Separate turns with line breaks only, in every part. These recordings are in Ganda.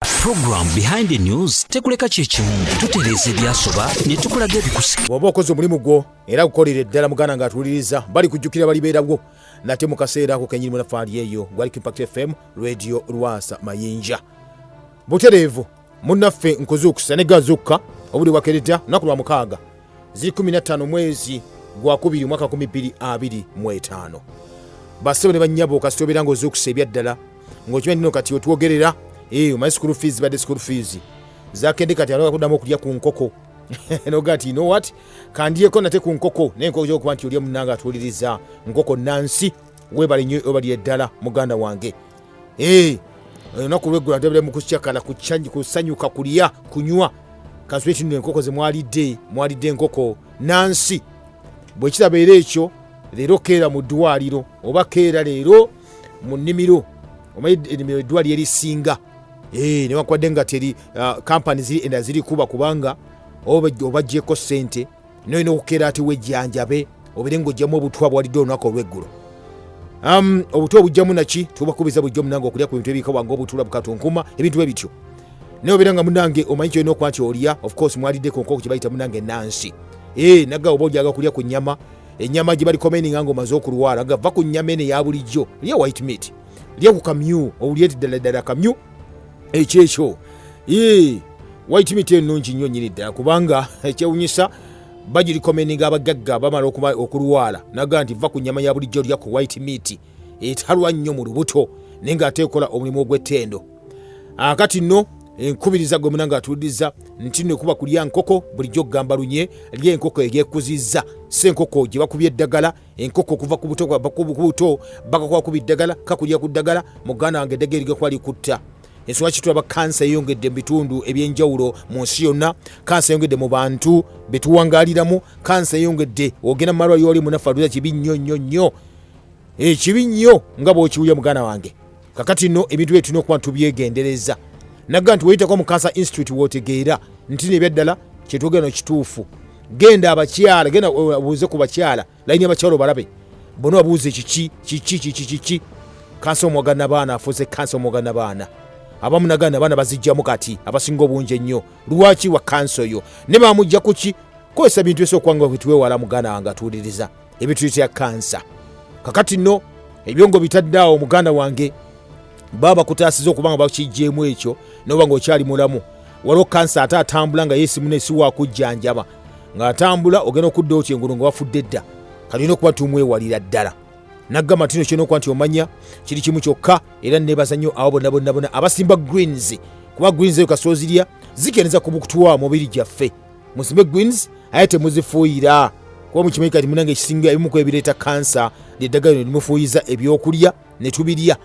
Program behind the news tekuleka kyekimu tutereeza ebyasoba ne tukulaga ebikusika bw'oba okoze omulimu gwo
era gukolere ddala muganda ng'atuwuliriza bali kujjukira balibeerawo nate mu kaseera ako kenyinimu nafaali eyo gwali kimpact fm radio lwasa mayinja butereevu munnaffe nkuzuukusa ne gazuukka obuli wakeredda lunaku lwa mukaaga ziri 15 mwezi gwakubiri omwaka 225 basebo ne banyabo kasita obeera nga ozuukusa ebyaddala ngaokimanyi tino kati otwogerera eh, omanyi school fees badde school fees zakende kati anakuddamu okulya ku nkoko noga ti no wat kandyeko nate ku nkoko naye nkoko kyokuba nti olya munanga atuuliriza nkoko nansi webale nnyo obalire ddala muganda wange Eh, olunaku lweggula ntebere mu kucakana kusanyuka kulya kunywa kansule kino enkoko ze mwalidde mwalidde enkoko nansi bwe kirabeera ekyo leero keera mu ddwaliro oba keera leero mu nnimiro omanyi ennimiro eddwaliro erisinga eh, newankubadde nga teri kampani ah, ziri enda ziri kuba kubanga obajjeko ssente noyina okukeera ati wejjanjabe obere ngaojjamu obutwa bwalidde olunaku olweggulo um, obutwa obujjamu naki tubakubiza bujjo munange okulya ku bintu ebiika wange obutula bukatunkuma ebintu bwe bityo naye obeera nga munange omanyi kyolina okuba nti olya ofcourse mwalidde ku nkoko kyebayita munange nansi e eh, naga oba ojaga kulya ku nyama enyama gye balikomeninga nga omaze okulwala nga va ku nyama eno eya bulijjo lya white meat lya ku kamyu owulye ti ddala ddala kamyu ekyekyo yii white meat enungi nnyo nyini ddala kubanga ekyewunyisa bagirikomeninga abagagga bamala okulwala naga nti va ku nyama ya bulijjo lya ku white meat etalwa nnyo mu lubuto naye nga ate ekola omulimu ogw'ettendo akati nno enkubiriza gwe munanga atuudiza nti no kuba kulya nkoko bulijjo okugamba lunye lyenkoko egyekuzizza si enkoko gye bakubya eddagala enkoko okuva ku buto kubuto bakakuba ku biddagala kakulira ku ddagala muganda wange eddagala erigakuba likutta ensonga kitulaba kansa eyongedde mu bitundu ebyenjawulo mu nsi yonna kansa eyongedde mu bantu betuwangaliramu kansa eyongedde ogenda mu malwaliro oli munaffe aluza kibi nnyo nnyo nnyo ekibi eh, nnyo nga bwokiwulya muganda wange kakati no ebintu bye tulina okuba tubyegendereza nagga nti weyitako mu cancer institute wotegeera nti nebyaddala kyetwogera no kituufu genda abakyala genda obuuze eh, ku bakyala layini abakyala obalabe bona wabuuze kiki kiki kiki kiki kansa omwaga nabaana afuuse kansa omwaga nabaana abamu nagaa nabaana bazijjamu kati abasinga obungi ennyo lwaki wa kansa oyo ne bamujja kuki kozesa bintu esookubanga wetuwewala muganda wange atuuliriza ebituyitira kansa kakati no ebyo nga obitadde awo muganda wange baba bakutaasiza okuba nga bakijjeemu ekyo noba nga okyali mulamu waliwo kansa ate atambula nga yesimuna esiwakujjanjaba ng'atambula ogenda okudda otya engulu nga wafudde dda kati olina okuba tumwewalira ddala naggamba tino kirina okuba nti omanya kiri kimu kyokka era nebaza nnyo abo bonna bonna bona abasimba greens kuba greens eyo kasozirya zikeneza ku bukutuwa mubiri gyaffe musime greens aye temuzifuuyira kuba mukimanyi kati munange ekisinga ebimu kwebireeta kansa lyeddagala lino limufuuyiza ebyokulya ne tubirya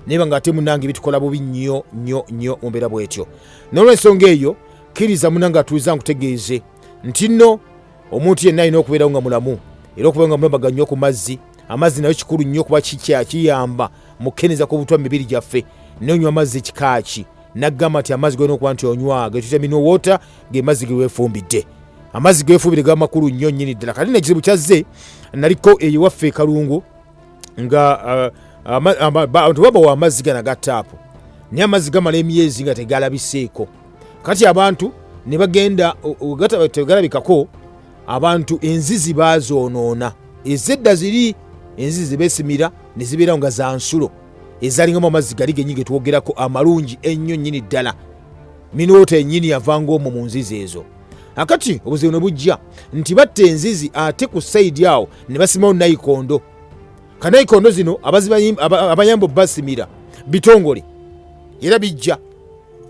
naye banga ate munange bitukola bubi nnyo nnyo nnyo mu mbeera bwetyo n'olwensonga eyo kkiriza munange atuuza nkutegeeze nti nno omuntu yenna alina okubeerawo nga mulamu era okubeera nga mulamaga nnyo ku mazzi amazzi nayo kikulu nnyo kuba kikyakiyamba mu kukendeeza ku butwa mu mibiri gyaffe nonywa amazzi kikaaki naggamba nti amazzi golina okuba nti onywa getuyita mino water ge mazzi gewefumbidde amazzi gewefumbidde gaba makulu nnyo nnyini ddala kati nekizibu kyazze naliko eyiwaffe ekalungu nga uh, abantu babawa amazzi gana ga taapu naye amazzi gamala emyezi nga tegalabiseeko kati abantu ne bagenda tegalabikako abantu enzizi bazoonoona ezedda ziri enzizi zebesimira ne zibeerawo nga za nsulo ezalingamu amazzi gali genyi ge twogerako amalungi ennyo nnyini ddala minoota ennyini yavanga omwo mu nzizi ezo akati obuzibu ne bujja nti batta enzizi ate ku sayidi awo ne basimawo nayikondo kanayikondo zino abayamba obasimira bitongole era bijja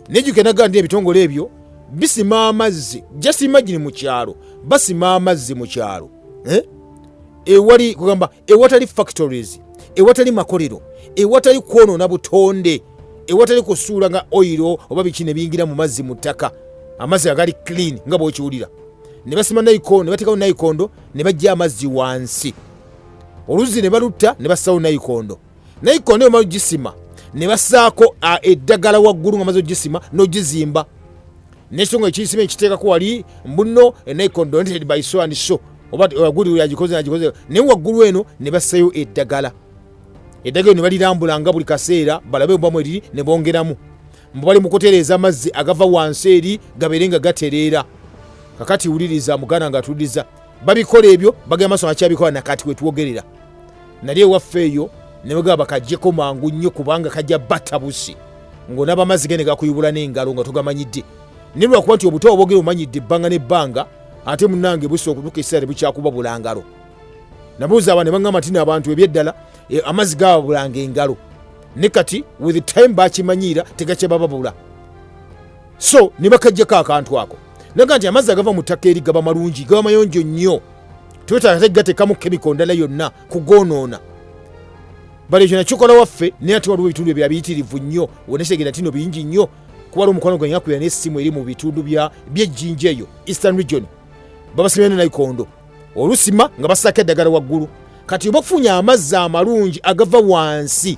nejukenaga ndi ebitongole ebyo bisima amazzi just imagine mu kyalo basima amazzi mu kyalo eh? ewali kugamba ewatali factories ewatali makolero ewatali kwonoona butonde ewatali kusuula nga oyiro oba biki ne biyingira mu mazzi mu ttaka amazzi agali clean nga bwokiwulira ne basima nayikondo ne bateekawo nayikondo ne bajja amazzi wansi oluzzi ne balutta ne bassawo nayikondo naye ikonda omala ogisima ne basaako eddagala waggulu nga maze ogisima n'ogizimba nekisonga ekiyisima ekiteekako wali mbuno enaikon donated by so and so oba waguli yagikoze nagikoze naye waggulu eno ne bassayo eddagala eddagala ne balirambula nga buli kaseera balabe obamu eriri ne bongeramu mbu bali mu kutereeza amazzi agava wansi eri gabeere nga gatereera kakati wuliriza muganda nga atuliza babikola ebyo bagenda maso akyabikola nakati wetwogerera nali ewaffe eyo nebagaba bakajjeko mangu nnyo kubanga kajja batabusi ngaonaba amazzi ge negakuyubula n'engalo nga togamanyidde naye lwakuba nti obuto obogere omanyidde ebbanga n'ebbanga ate munange busa okutuka ekiseera tebukyakuba bulangalo nabuuza aba nebagamba nti naabantu ebyeddala e, amazzi gababulanga engalo ne kati with time bakimanyiira tegakyabababula so ne bakajjako akantu ako naga nti amazzi agava mu ttaka eri gaba malungi gaba mayonjo nnyo twetaaga tegatekamu kemiko ndala yonna kugonoona bali ekyo nakikola waffe naye ate waliwo ebitundu ebya biyitirivu nnyo onetegera tino bingi nnyo kuba waliwo omukwano gwange nakubira n'essimu eri mu bitundu byejjinja eyo eastern region babasimira ne naikondo olusima nga basaako eddagala waggulu kati oba okufunya amazzi amalungi agava wansi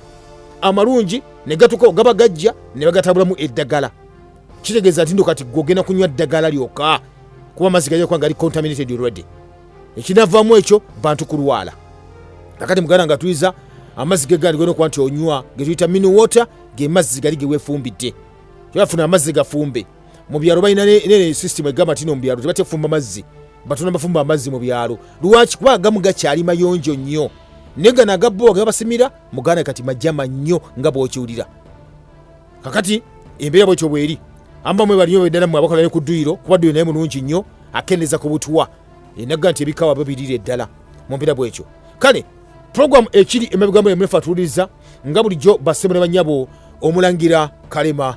amalungi ne gatuka ogaba gajja ne bagatabulamu eddagala kitegeeza nti ndo kati gwogenda kunywa ddagala lyoka kuba amazzi gajakuba nga ali contaminated already ekinavaamu ekyo bantu kulwala akati muganda nga tuyiza amazzi gegaali gona okuba nti onywa getuyita mini water ge mazzi gali gewefumbidde tebafuna amazzi gafumbe mu byalo balina nene system egamba nti no mu byalo tebatefumba mazzi batuna bafumba amazzi mu byalo lwaki kuba agamu gakyali mayonjo nnyo naye gano agabbo agabasimira muganda kati majama nnyo nga bwokiwulira kakati embeera bwetyo bweri amba mwe balinyo beddala mwe abakola ne ku dduyiro kuba dduyiro naye mulungi nnyo akendeza ku butwa enaga nti ebikawa byo birira eddala mu mbeera bwekyo kale puroguramu ekiri emabigambo emunefa atuwuliriza nga bulijjo bassebo ne bannyabo omulangira kalema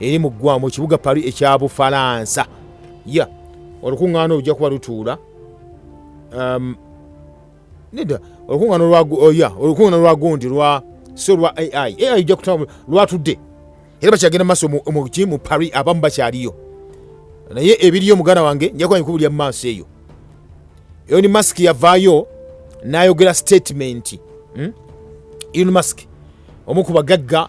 eri mu ggwamu ekibuga pari ekya bufalansa ya olukuŋŋaana olujja kuba lutuula um, neda olukuŋŋaana olwaoya oh, olukuŋŋaana lwa gundi lwa so lwa ai ai ojja kutaba lwatudde era bakyagenda mu maaso muki mu pari abamu bakyaliyo naye ebiriyo muganda wange njakuba nkubu lya maaso eyo eyo ni masiki yavaayo n'ayogera sitatimenti hmm? elon mask omu ku bagagga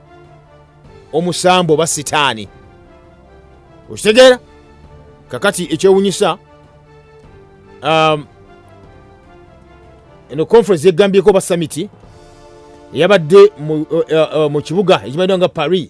omusambu oba sitaani okitegeera kakati ekyewunyisa um, eno conference yegambyeko oba samiti eyabadde mu uh, uh, uh, kibuga ekimanyiwa nga paris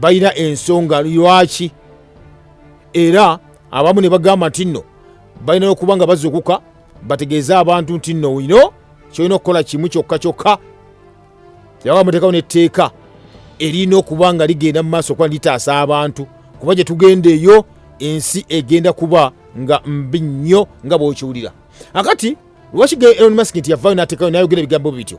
balina ensonga lwaki era abamu ne bagamba nti nno balina okuba nga bazukuka bategeeze abantu nti nno ino kyolina okukola kimu kyokka kyokka yaba muteekawo netteeka erina okuba nga ligenda mu maaso okuba litaasa abantu kuba gye tugenda eyo ensi egenda kuba nga mbi nnyo nga bwokiwulira akati lwaki ge elon mask nti yavaayo natekayo nayogera ebigambo bityo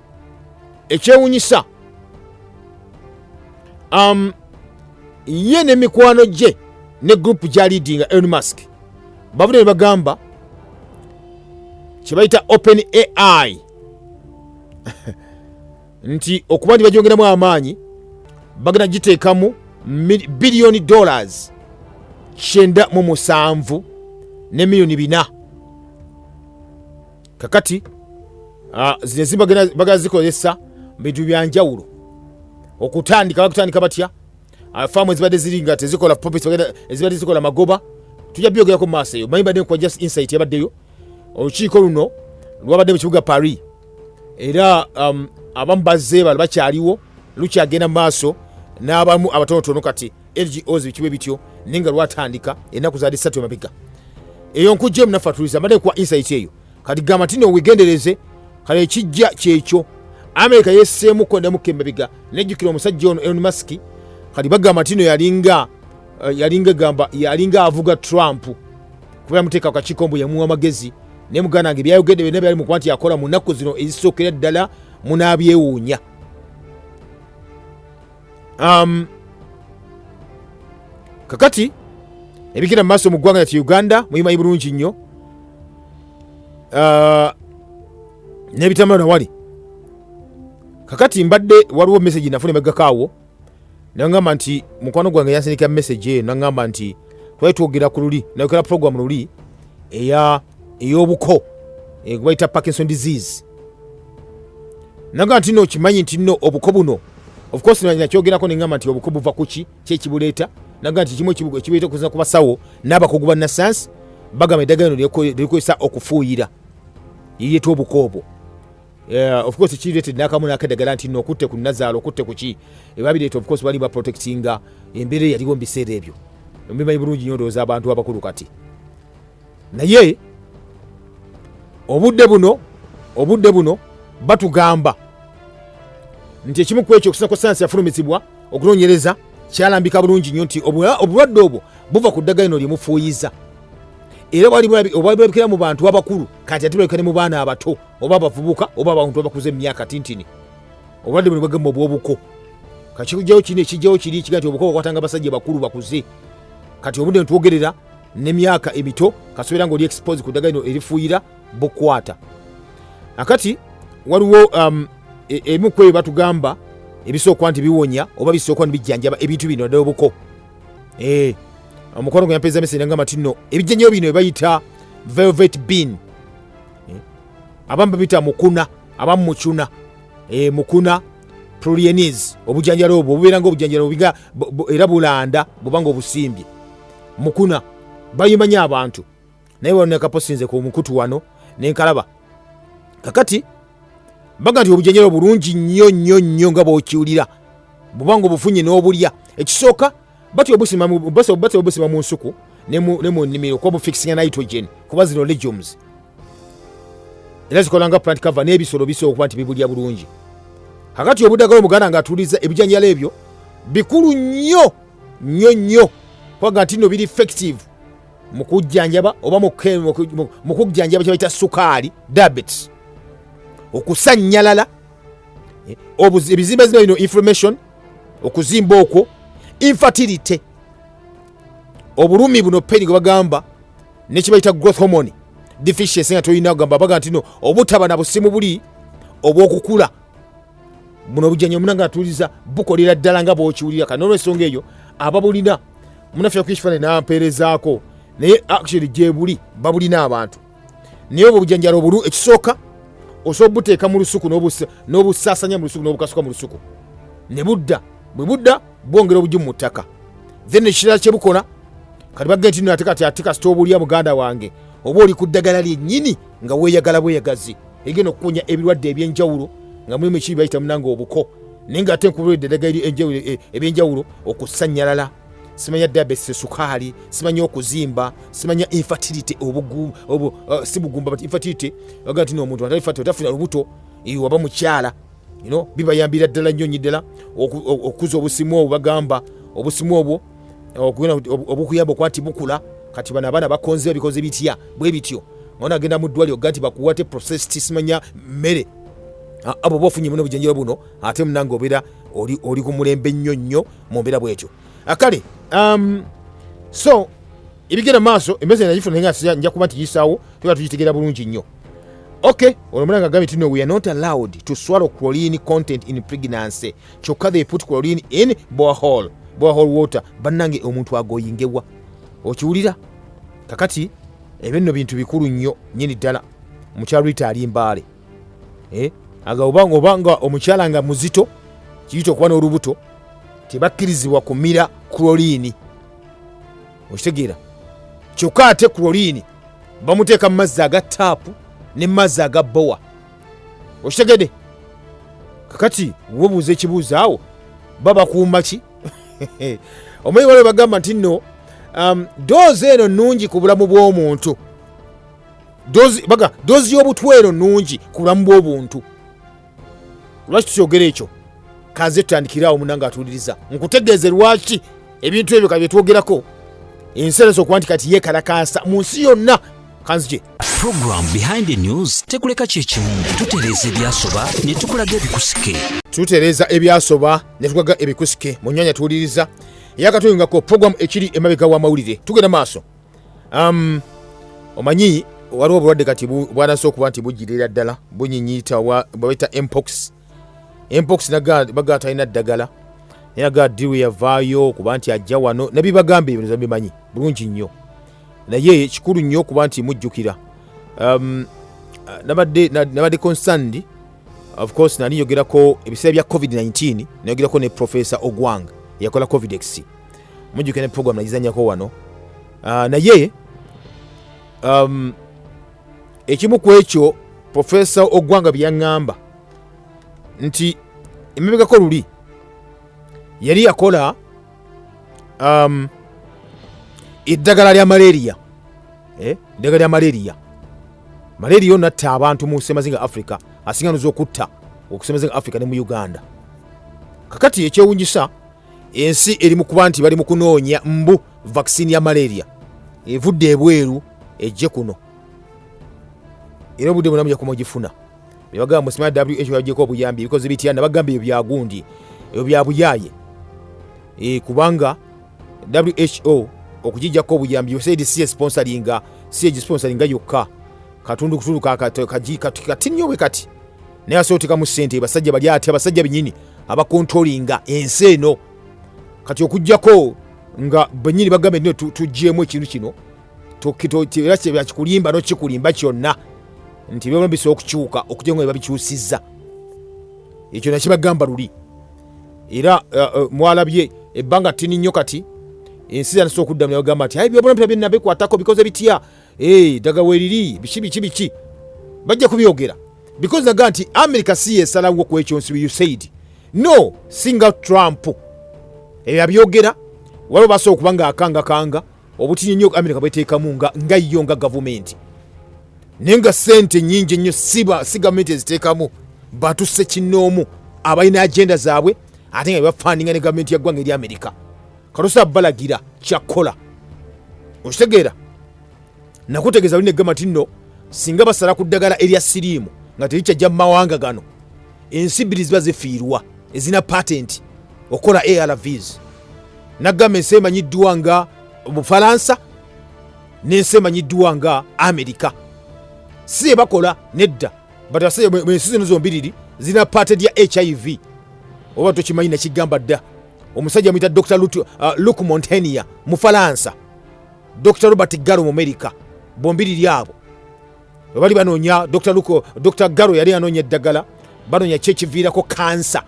ekyewunyisa um, ye ne mikwano gye ne gurupu gya leadinga elon musk bavude ne bagamba kyebayita open ai nti okuba nti bagyongeramu amaanyi bagenda giteekamu biliyoni dollars kyenda mu musanvu ne miliyoni bina kakati ah, zino ezimba bagala zikozesa bintu byanjawulo okutandika bakutandika batya ah, faamu ezibadde ziri nga tezikola popis ezibadde zikola magoba tujja byogerako mu maaso eyo manyi badde nkuwa just insight yabaddeyo olukiiko luno lwabadde mu kibuga paris era um, abamu bazze bali bakyaliwo lukyagenda mu maaso n'abamu abatonotono kati lgos bikiwe bityo naye nga lwatandika enaku zali satu emabega eyo nkujja emu nafatuliza mbadde kuwa insight eyo kati gamba nti no wegendereze kale ekijja kyekyo amerika yeseemu kondamuka emabega nejjukira omusajja ono elon musk kati bagamba nti no yalinga eh, yalinga gamba yalinga avuga trump kuba yamuteeka kukakiiko mbu yamuwa amagezi naye muganda nge byayogedde byonna byali mukuba nti yakola mu nnaku zino ezisookera ddala munaabyewuunya um, kakati ebigenda mu maaso mu ggwanga lyati uganda muyimanyi bulungi nnyo uh, nebitambula nawali kakati mbadde waliwo message nafuna emegako awo nagamba nti mukwano gwange yansindikira message eyo nagamba nti twali twogera ku luli nayogera program luli eya ey'obuko eh, gwebayita parkinson disease naga nti no okimanyi nti no obuko buno ofcourse nakyogerako nengamba nti obuko buva kuki kyekibuleeta naga nti kimu ekibuleeta okuzina ku basawo n'abakugu ba nasayansi bagamba eddagala ino likozesa okufuuyira yeyeeta obuko obwo eh, ofcourse kireete nakamu nakeddagala nti no okutte ku nazaala okutte kuki ebabireeta ofcourse bali baprotectinga embeera eyaliwo mu biseera ebyo omubimanyi bulungi nyo ndowooza abantu abakulu kati naye obudde buno obudde buno batugamba nti ekimu ku ekyo okusako sayansi yafulumizibwa okunoonyereza kyalambika bulungi nnyo nti obulwadde obwo buva ku ddagala ino lyemufuuyiza era obwalibulabikira mu bantu abakulu kati ate bulabika ne mu baana abato oba abavubuka oba abantu abakuza emyaka tintini obulwadde buno bwegema obwobuko kakikujjawo kino ekijjawo kiri kiga nti obuko bakwatanga abasajja bakulu bakuze kati obudde ntwogerera ne myaka emito kasobera ngoli expose ku daga ino erifuira bukwata akati waliwo um, e, emu kweyo batugamba ebisooka nti biwonya oba bisooka nibijjanjaba ebintu bino naddala obuko eh, omukwano gweyampeeza mese nangamba ti no ebijjanjabo bino ebayita velvet bean eh, abamu babita mukuna abamu mucuna eh, mukuna prolienis obujanjalo obwo obubeera nga obujanjalo era bulanda bubanga obusimbye mukuna bayimanyi abantu naye wano nekaposinze ku mukutu wano nenkalaba kakati baga nti obujanjalo bulungi nnyo nnyo nnyo nga bwokiwulira bubanga obufunye n'obulya ekisooka batya obusima mu nsuku ne mu nnimiro kuba bufikisinga nitrogen kuba zino legumes era zikola nga plant cover n'ebisolo bisobola okuba nti bibulya bulungi kakati obudagala omuganda nga atuuliza ebijanjalo ebyo bikulu nnyo nnyo nnyo kubanga nti no biri effective mu kujjanjaba oba mu kujjanjaba kyebayita sukaali diabetes okusannyalala eh, ebizimba zimba bino information okuzimba okwo infertility obulumi buno peni gwe bagamba nekibayita growth hormone deficiency nga tolina kugamba baga ntino obutaba na busimu buli obwokukula muno obujjanyo muna nga atuuliza bukolera ddala nga bwokiwulira kati nolwensonga eyo ababulina munaffe yakuba ekifaananyi nampeerezaako naye actually gyebuli babulina abantu naye obwo obujanjala obulu ekisooka osobola obuteeka mu lusuku n'obusaasanya mu lusuku n'obukasuka mu lusuku ne budda bwe budda bwongera obugimu mu ttaka then ekirala kye bukola kati bagge nti nate kati ate kasita obulya muganda wange oba oli ku ddagala lyennyini nga weeyagala bweyagazi egenda okukunya ebirwadde ebyenjawulo nga mulimu ekibi bayita munanga obuko naye nga ate nkubulidde eddagala e, ebyenjawulo okusanyalala simanya diabetes esukaali simanya okuzimba simanya infertility obugu obu, uh, si bugumba but infertility aga nti noomuntu atafuna lubuto waba mukyala you know, bibayambira ddala nnyo nyi ddala okukuza obusimu obwo bagamba obusimu obwo okugenda obukuyamba okuba nti bukula kati bano abaana bakonzewa bikoze bitya bwe bityo mwana agenda mu ddwaliro ga nti bakuwate process tisimanya mmere abo oba ofunye muno obujanjaba buno ate munange obeera oli ku mulembe nnyo nnyo mu mbeera bwetyo akale ah, um, so ebigenda maaso embeeza nagifuna naye nja kuba nti yisaawo tuba tugitegeera bulungi nnyo ok olwo munange agambye tino we are not allowed to swallow chlorine content in pregnancy kyokka they put chlorine in borehole borehole water bannange omuntu agoyingewa okiwulira kakati ebyo nno bintu bikulu nnyo nyini ddala mukyalo ita ali mbaale eh? aga obanga obanga omukyala nga muzito kiyita okuba n'olubuto tebakkirizibwa kumira chlorine okitegeera kyokka ate chlorine bamuteeka mu mazzi aga taapu ne mazzi aga bowa okitegede kakati wobuuza ekibuuzo awo babakuuma ki omanyi waliwo bagamba nti no um, doozi eno nungi ku bulamu bw'omuntu doozi y'obutwa eno nungi ku bulamu bw'obuntu lwaki tukyogera ekyo kanze tutandikiraawo munange atuwuliriza nkutegeeze lwaki ebintu ebyo ka byetwogerako ensi ereesa okuba nti kati yekalakaasa mu nsi yonna kanzije program
behind the news tekuleka kyekimu tutereeza ebyasoba ne tukulaga ebikusike tutereeza
ebyasoba ne tukulaga ebikusike mu nyanya tuwuliriza eyakatuyungako program ekiri emabega w'amawulire tugenda maaso um, omanyi waliwo obulwadde kati bwanase okuba nti bugirira ddala bunyinyita bwabeta mpox mpox bagaa talina ddagala naye agaa diru yavaayo kuba nti ajja wano nabibagamba ebintu bimanyi bulungi nnyo naye kikulu nnyo okuba nti mujjukira um, nabadde consand of course nali yogerako ebiseera bya covid-19 nayogerako ne profesa ogwang eyakola covidex mujjukira ne program nagizanyako wano uh, naye um, ekimu ku ekyo profesa ogwanga byeyaŋŋamba nti emabegako luli yali yakola um, eddagala lya malaria eh, eddagala lya malaria malaria ono atta abantu mu semazinga africa asinganuza okutta okusemazinga africa ne mu uganda kakati ekyewunyisa ensi eri mu kuba nti bali mu kunoonya mbu vaccine ya malaria evudde ebweru ejje kuno era obudde bwonna muja kumugifuna nebagamba musimaya wh yajeko obuyambi ebikoze bitya nabagamba ebyo byagundi ebyo byabuyaye e, kubanga who okugijjako obuyambi yosaidi si esponsalinga si egisponsalinga yokka katundu kutundu kati nnyo bwe kati naye asobola otekamu sente basajja bali ati abasajja benyini abakontrolinga ensi eno kati okujjako nga benyini bagambe nio tugyemu ekintu kino era kyebakikulimba nokikulimba kyonna nti byona bisobola okukyuka okugya nga bebabikyusizza ekyo nakibagamba luli era uh, uh, mwalabye ebbanga tini nnyo kati ensi zanasobola okuddamu nabagamba nti aye byobona bita byenabikwatako bikoze bitya Hey, daga weliri biki biki biki bajja kubyogera because naga nti america si yesalawo ku ekyo nsi you said no singa trump ebyo abyogera waliwo basobola okuba nga akanga kanga obutinyi nnyo america bweteekamu nga nga yo nga gavumenti naye nga sente nyingi ennyo siba si gavumenti eziteekamu batuse kinnoomu abalina agenda zaabwe ate nga bebafandinga ne gavumenti ya ggwanga eri america katosa balagira kyakukola okitegeera nakutegeeza luli negamba ti nno singa basala ku ddagala erya siriimu nga terikyajja mu mawanga gano ensi bbiri ziba zifiirwa ezina patenti okukola arvs nagamba ensi emanyiddwa nga bufalansa n'ensi emanyiddwa nga amerika si ebakola nedda but ensi zino zombiriri zirina paate lya hiv oba tokimanyi nakigamba dda omusajja muyita dr uh, luk montenia mufalansa dr robert garo mumerika bombi liri abo webali banoonya dr luk dr garo yali anoonya eddagala banoonya kyekiviirako kansa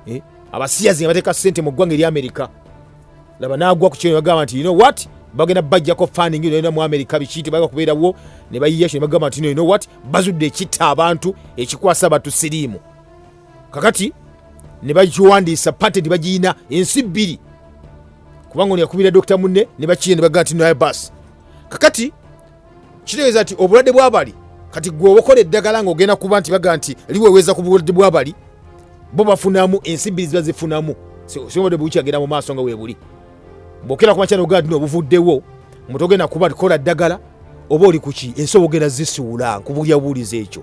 eh? abasiyazi nga bateeka sente mu ggwanga eri amerika laba nagwa ku kino bagamba nti you know what bagenda bajjako funding nolina mu amerika biki tebaga kubeerawo ne bayiya kino bagamba nti you know what bazudde ekitta abantu ekikwasa abantu siriimu kakati ne bakiwandiisa patenti bagiyina ensi bbiri kubanga ono yakubira dokita munne ne bakiye ne bagaa ti naye bas kakati kitegeeza nti obulwadde bwabali kati gwe obakola eddagala nga ogenda kuba nti bagaa nti liweweza ku bulwadde bwabali bo bafunamu ensi bbiri ziba zifunamu siobadde bukyagenda mu maaso nga webuli bwokera kumakya nogaa tino obuvuddewo mutogenda kuba kola ddagala oba oli kuki ensi obugenda zisiwula nkubulya buwuliza ekyo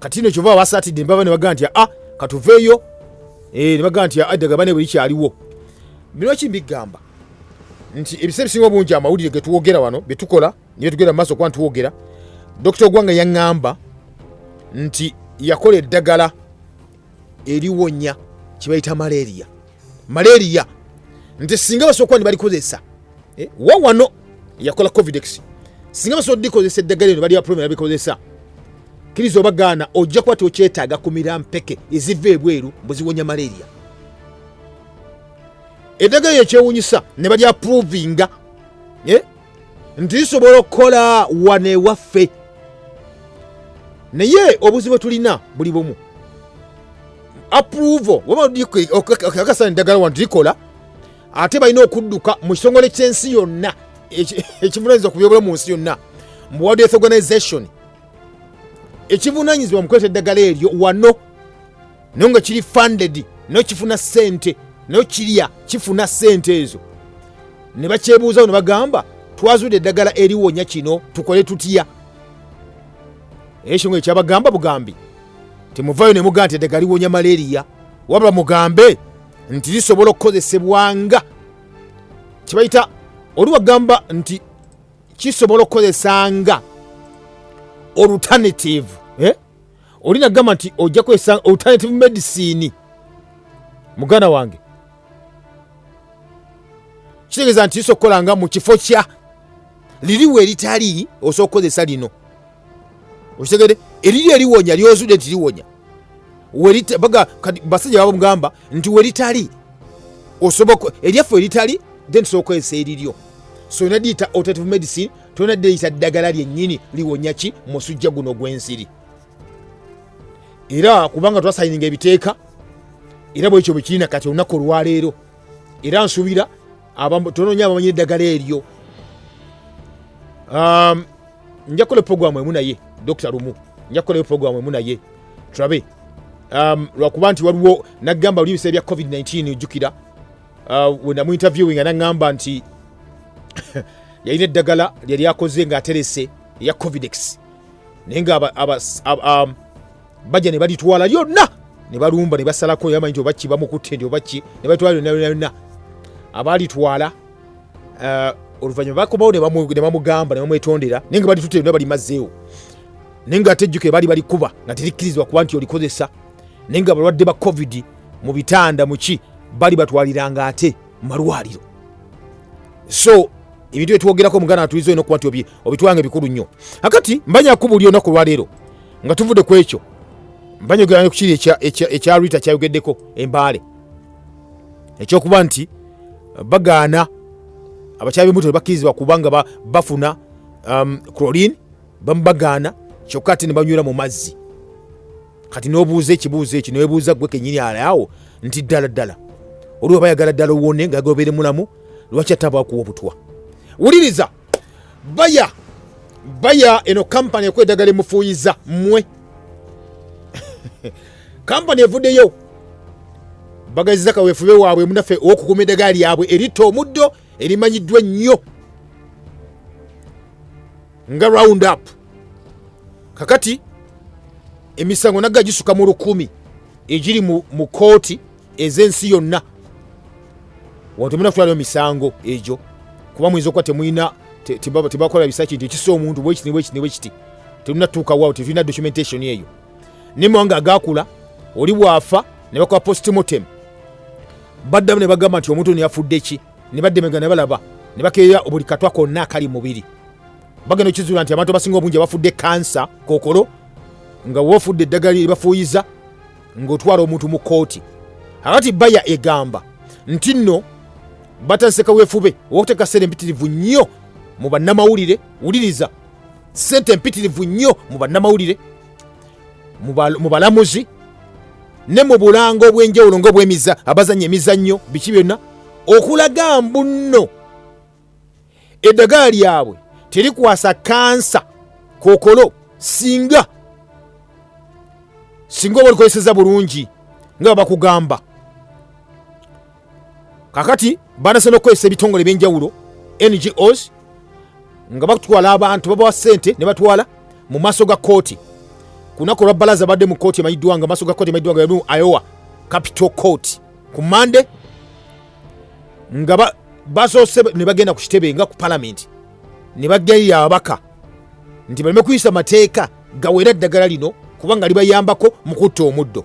kati no kyova abasatidde nbaba nebagaa nti a ah, katuveeyo eh, nebagaa nti addaga ah, bane buli kyaliwo bino ki mbigamba nti ebisa ebisinga obungi amawulire getwogera wano byetukola niye tugenda mu maaso kuba ntitwogera dokita ogwanga yaŋŋamba nti yakola eddagala eriwonya kyebayita malaria malaria nti singa basobola kuba nibalikozesa eh, wawano yakola covidex singa basobola dikozesa eddagala eno bali baprome nabikozesa kiriza obagaana ojja kuba tokyetaaga kumira mpeke eziva ebweru mbuziwonya malaria eddagala eyo kyewunyisa ne balyaprovinga eh, nti zisobola okukola wano ewaffe naye obuzibu tulina buli bumu approval wabakakasa eddagala wano tulikola ate balina okudduka mu kitongole ky'ensi yonna ekivunanyizibwa ku byobulamu mu nsi yonna mu world health organization ekivunanyizibwa mu kuleeta eddagala eryo wano naye nga kiri funded nayo kifuna sente nayo kirya kifuna sente ezo ne bakyebuuzawo ne bagamba twazudde eddagala eriwonya kino tukole tutya ekyo nga ekyabagamba bugambi temuvayo ne mugamba nti eddagala liwonya malaria wabula mugambe nti lisobola okukozesebwa nga kibayita oli wagamba nti kisobola okukozesa nga olutanetive eh? oli nagamba nti ojja kwesa alternative medicine muganda wange kitegeeza nti iso okukola nga mu kifo kya liriwo eritali osobola okukozesa lino okitegede eriri eliwonya lyozude nti liwonya basajja baba mugamba nti weritali osobola eryaffe eritali then tusobola okukozesa eriryo so olina diyita alternative medicine tolina deyisa ddagala lyennyini liwonya ki musujja guno gw'ensiri era kubanga twasayininga ebiteeka era bwekyo bwekirina kati olunaku olwaleero era nsuubira tononya abamanyira eddagala eryo um, nja kukola eprogramu emu naye dokita lumu nja kukolayo eprogramu emu naye tulabe um, lwakuba nti waliwo nagamba oli ebiseera bya covid-19 ojjukira uh, wenamu interviewing anaŋŋamba nti yalina eddagala lyali akoze ng'aterese eya covidex naye nga um, bajja ne balitwala lyonna ne balumba ne basalako yamanyi nti obaki bamukutte nti obaki ne batwala lyonna lyonna lyonna abaalitwala uh, oluvanyuma bakomawo ne bamugamba ne bamwetondera naye nga balitutte lyonna balimazeewo naye nga atejjuke bali balikuba nga terikkirizibwa kuba nti olikozesa naye nga balwadde ba covid mu bitanda muki bali batwaliranga ate mumalwaliro so ebintu byetwogerako muganda atuliza olina okuba nti obitwanga ebikulu nnyo akati mbanyaku buli onaku olwaleero nga tuvude ku ekyo mbanyogeranga kukiri ekya rita kyayogeddeko embaale ekyokuba nti bagaana abakyala bemuto tebakkirizibwa kubanga bafuna um, chlorine bamubagaana kyokka ate ne banywera mu mazzi kati n'obuuza ekibuuzo ekyo newebuuza gwe kenyini alaawo nti ddala ddala oliwo bayagala ddala owone nga gobere mulamu lwaki ataba akuwa obutwa wuliriza baya baya eno kampani ekuwa eddagala emufuuyiza mmwe kampani evuddeyo bagaziza kaweefube waabwe munaffe ow'okukuuma eddagala lyabwe eritta omuddo erimanyiddwa ennyo nga round up kakati emisango nagga gisuka mu lukumi egiri mu kooti ez'ensi yonna wano temulina kutwalayo misango egyo kuba muyinza okuba temulina tebakola bisaki nti ekisa omuntu bwekiti nebwekiti nebwekiti tulina tuuka wawo tetulina documentation eyo naye mawanga agakula oli bwafa ne bakola postmortem baddamu ne bagamba nti omuntu ono yafudde ki ne baddemega ne balaba ne bakeeya buli katwa konna akali mubiri bagenda okizuula nti abantu abasinga obungi abafudde kansa kokolo nga wofudde eddagala libafuuyiza ng'otwala omuntu mu kkooti akati baya egamba nti nno batandise kaweefube ow'okuteeka ssente empitirivu nnyo mu bannamawulire wuliriza ssente empitirivu nnyo mu bannamawulire mu balamuzi ne mu bulango obw'enjawulo ngaobwemiza abazanya emizannyo biki byonna okulaga mbunno eddagala lyabwe terikwasa kansa kokolo singa singa oba olikozeseza bulungi nga bakugamba kakati banase nokukozesa ebitongole ebyenjawulo ngos nga batwala abantu babawa sente ne batwala mu maaso ga kooti ku lunaku olwa balaza badde mu kooti emanyiddwa nga maaso ga kooti emanyiddwa nga yalimu iowa capital court ku mande nga basoose ne bagenda ku kitebe nga ku palamenti ne bageyo ababaka nti baleme kuyisa mateeka gawera eddagala lino kubanga libayambako mu kutta omuddo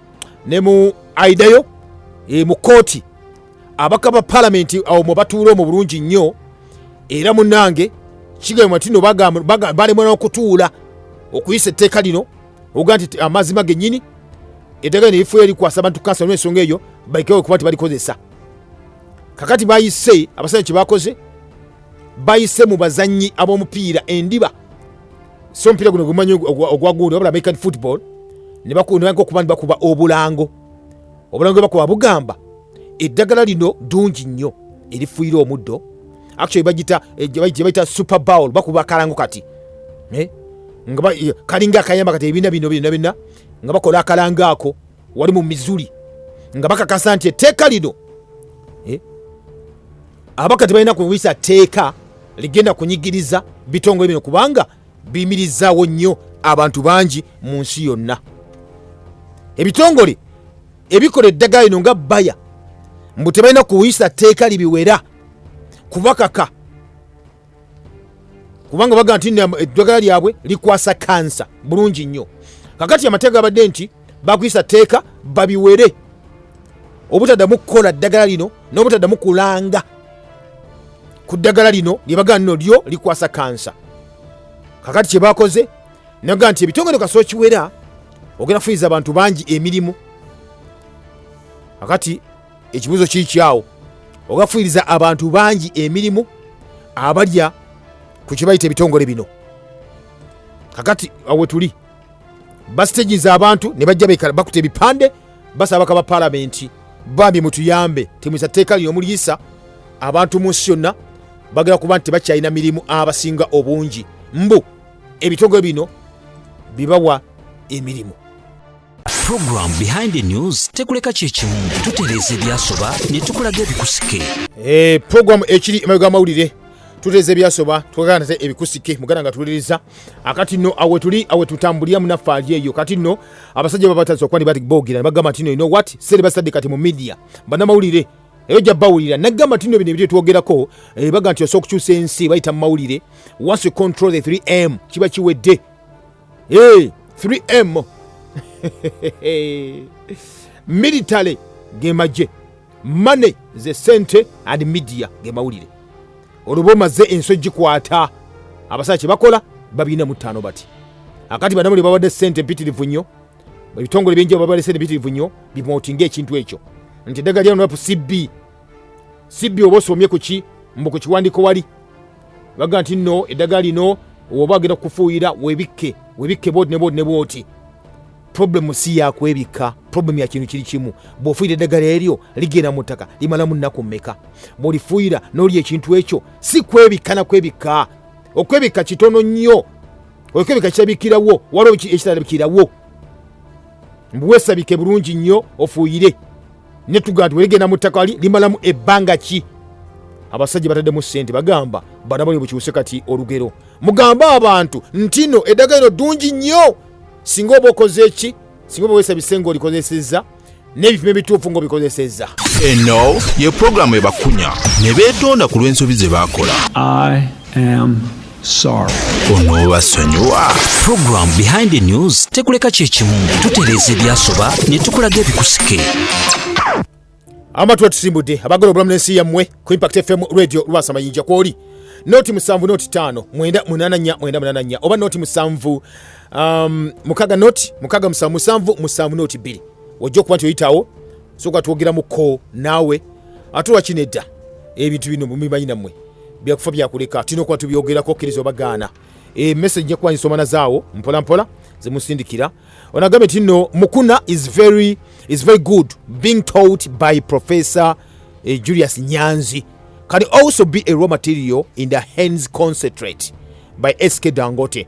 ne mu aidayo e, mu kooti abaka ba palamenti awo mwe batuula omu bulungi nnyo era munange kigambwa nti no balemwa n'okutuula okuyisa etteeka lino oga nti amazima gennyini etteeka lino erifuula erikwasa abantu kansa n'ensonga eyo balikewo okuba nti balikozesa kakati bayise abasajja kye bakoze bayise mu bazannyi ab'omupiira endiba so omupiira guno gumanyi ogwagundi wabula american football nebakunaga okuba ni bakuba obulango obulango bwebakuba bugamba eddagala lino ddungi nnyo erifuyira omuddo actually bagita eh, gyebayita super bowl bakuba akalango kati eh? nga kalinga akayamba kati ebibiina bino byona byonna nga bakola akalango ako wali mu mizuli nga bakakasa nti etteeka lino eh, abaka tebalina kuyisa tteeka ligenda kunyigiriza bitongole bino kubanga biyimirizaawo nnyo abantu bangi mu nsi yonna ebitongole ebikola eddagala lino nga baya mbu tebalina kuyisa tteeka libiwera kubakaka kubanga bagamba nti eddagala lyabwe likwasa kansa bulungi nnyo kakati amateeka gabadde nti bakuyisa tteeka babiwere obutaddamu kukola ddagala lino n'obutaddamu kulanga ku ddagala lino lyebagamba nino lyo likwasa kansa kakati kyebakoze naga nti ebitongole kasoo kiwera ogenda kufuniza abantu bangi emirimu kakati ekibuzo kikyawo ogafuiriza abantu bangi emirimu abalya ku kibayita ebitongole bino kakati awetuli basiteginza abantu ne bajja bekala bakuta ebipande basaba bakaba palamenti bambi mutuyambe temwisa tteeka lino muliyisa abantu mu nsi yonna bagala kuba nti tebakyalina mirimu abasinga obungi mbu ebitongole bino bibawa emirimu
Program behind the news tekuleka kyekimu tutereeza ebyasoba ne tukulaga ebikusike eh, program
ekiri emabega amawulire tutereeza ebyasoba tukagana nate ebikusike muganda nga tuwuliriza akati nno awe tuli awe tutambulira munaffe ali eyo kati nno abasajja babatasa okuba nibati boogera nebagamba tino ino wat sere basadde kati mu midia banamawulire eyo jja bawulira nagamba tino bino ebiri twogerako eh, baga nti osobola okukyusa ensi bayita mu mawulire once you control the 3m kiba kiwedde hey, 3m military ge magye mane ze sente and media ge mawulire oluba omaze ensi ogikwata abasaa kye bakola babirina mu ttaano bati akati banamuli babadde sente empitirivu nnyo ebitongole bingi babadde sente empitirivu nnyo bimotinga ekintu ekyo nti eddagala lya nup cb sibbi oba osomye kuki mbu ku kiwandiko wali baga nti no eddagala lino oba agenda kukufuuyira webikke webikke bwoti nebwoti nebwoti problemu si yakwebikka problemu ya kintu kiri kimu bw'ofuuyira eddagala eryo ligenda mu ttaka limalamu nnaku mmeka bw'olifuuyira n'olya ekintu ekyo si kwebikka na kwebikka okwebikka kitono nnyo okwebikka kirabikirawo waliwo ekitalabikirawo mbuweesabike bulungi nnyo ofuuyire ne tugamba nti weligenda mu ttaka li limalamu ebbanga ki abasajja bataddemu ssente bagamba bana bali bukyuse kati olugero mugambe abantu ntino eddagala lino ddungi nnyo singa oba okoze ki singa oba wesa bisenga olikozesezza n'ebipimo ebituufu ng'obikozesezza eno
ye pulogulaamu ebakunya ne
beetonda
ku lw'ensobi ze baakola sorry onoobasonyiwa
program behind the news tekuleka kyekimu tutereeza ebyasoba ne tukulaga ebikusike amatu
atusimbudde abagala obulamu n'ensi yammwe ku impact fm radio lwasa mayinja kwoli noti musanvu noti taano mwenda munana nya mwenda munana nya oba noti musanvu um, mukaga noti mukaga musanvu musanvu musanvu noti bbiri ojja okuba nti oyitawo soka twogera muko naawe ate wakino edda ebintu bino mubimanyi nammwe byakufa byakuleka tulina okuba tubyogerako okkiriza obagaana emessage nja kuba nsoma nazaawo mpolampola zemusindikira onagambye nti nno mukuna is very, is very good being taught by professor eh, julius nyanzi can also be a raw material in the hands concentrate by sk dangote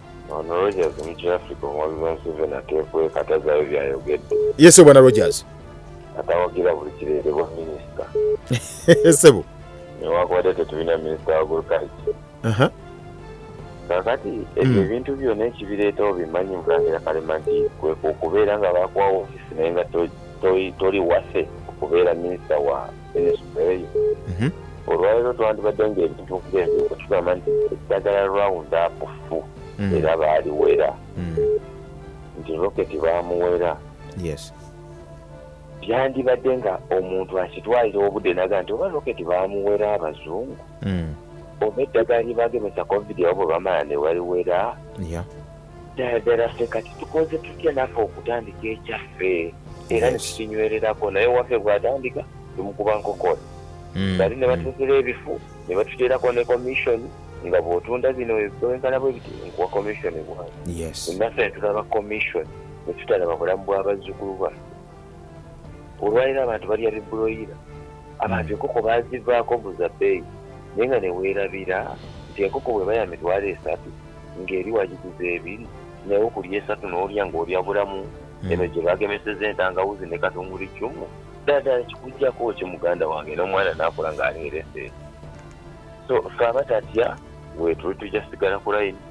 Ono
Rogers mukya Africa omwabizi wa Museveni ateekweka tazaayo byayogedde. Ye sebo bwana Rogers.
Atawagira
buli kireetebwa minisita. Sebo.
Newakubadde
tetulina minisita wa agriculture. Aha. Kakati ebyo hmm. ebintu byona ekibireetawo bimanyi mulangira kalema nti kwe okubeera nga bakuwa ofisi naye nga toli wase okubeera minisita wa Mhm. olwalero twandibadde nga ebintu kugenzi okutugamba nti eddagala round up fu mm. era baaliwera mm. nti roketi baamuwera yes byandibadde nga omuntu akitwalira obudde naga nti oba roketi baamuwera abazungu mm. oba eddagala lyebagemesa covid abo bwe bamala ne baliwera ddala ffe kati tukoze tutya naffe okutandika ekyaffe era netukinywererako naye waffe bwatandika tumukuba nkokora hmm. bali ne batukira hmm. ebifu ne batuteerako ne commission nga bwotunda bino bwenkana bwe biti nkuwa commission bwange naffe netulaba commission netutalaba bulamu bw'abazzukulu bwaffe olwaliro abantu balya bibuloyira abantu hmm. enkoko bazivaako buza bbeeyi naye nga neweerabira nti enkoko bweba ya mitwalo esatu ng'eri wagiguza ebiri naye okulya esatu n'olya ng'olya bulamu hmm. eno gye bagemeseza entangawuzi ne katunguli cumu ddala kikujjako ki muganda wange n'omwana n'akula ng'aleerese so fe aba tatya wetuli tujja sigala ku layini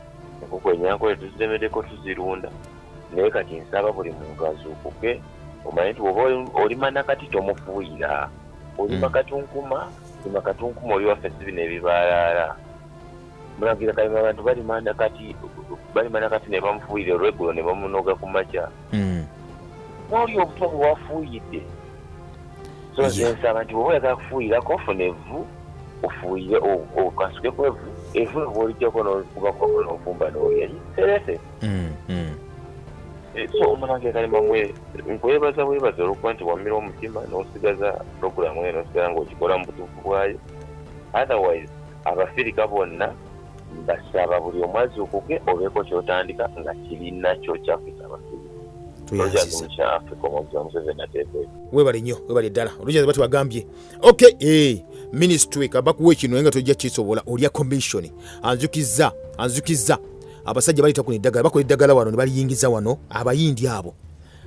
enkoko enyankole tuziremeddeko tuzirunda naye kati nsaba buli muntu azuukuke omanyi nti oba olima nakati tomufuuyira olima hmm. katunkuma olima katunkuma oli waffe si bino ebibaalaala mulangira kalema abantu balimanda kati balimanda kati ne bamufuuyira olweggulo ne bamunoga ku makya hmm. n'oli obutwa bwe wafuuyidde so nze nsaba nti bwoba oyagala kufuuyirako ofuna evvu ofuuyire okasuke ku evvu evvu ebwolijjako n'okubako n'ofumba n'olya serese hmm, hmm. eh, so omulangira kalema mwe nkwebaza bwebaza olwokuba nti wamira omutima n'osigaza puroguramu eyo n'osigala ng'okikola mu butuufu bwayo otherwise abafirika bonna mbasaba buli omu azuukuke obeeko kyotandika nga kirina kyokyafisa abafirika
webale nyo webale ddala olujazi bati wagambye ok eh, ministry kabakuwa ekino naye nga tojja kisobola olya commission anzukiza anzukiza abasajja baleta kuno eddagala bakola eddagala wano ne baliyingiza wano abayindi abo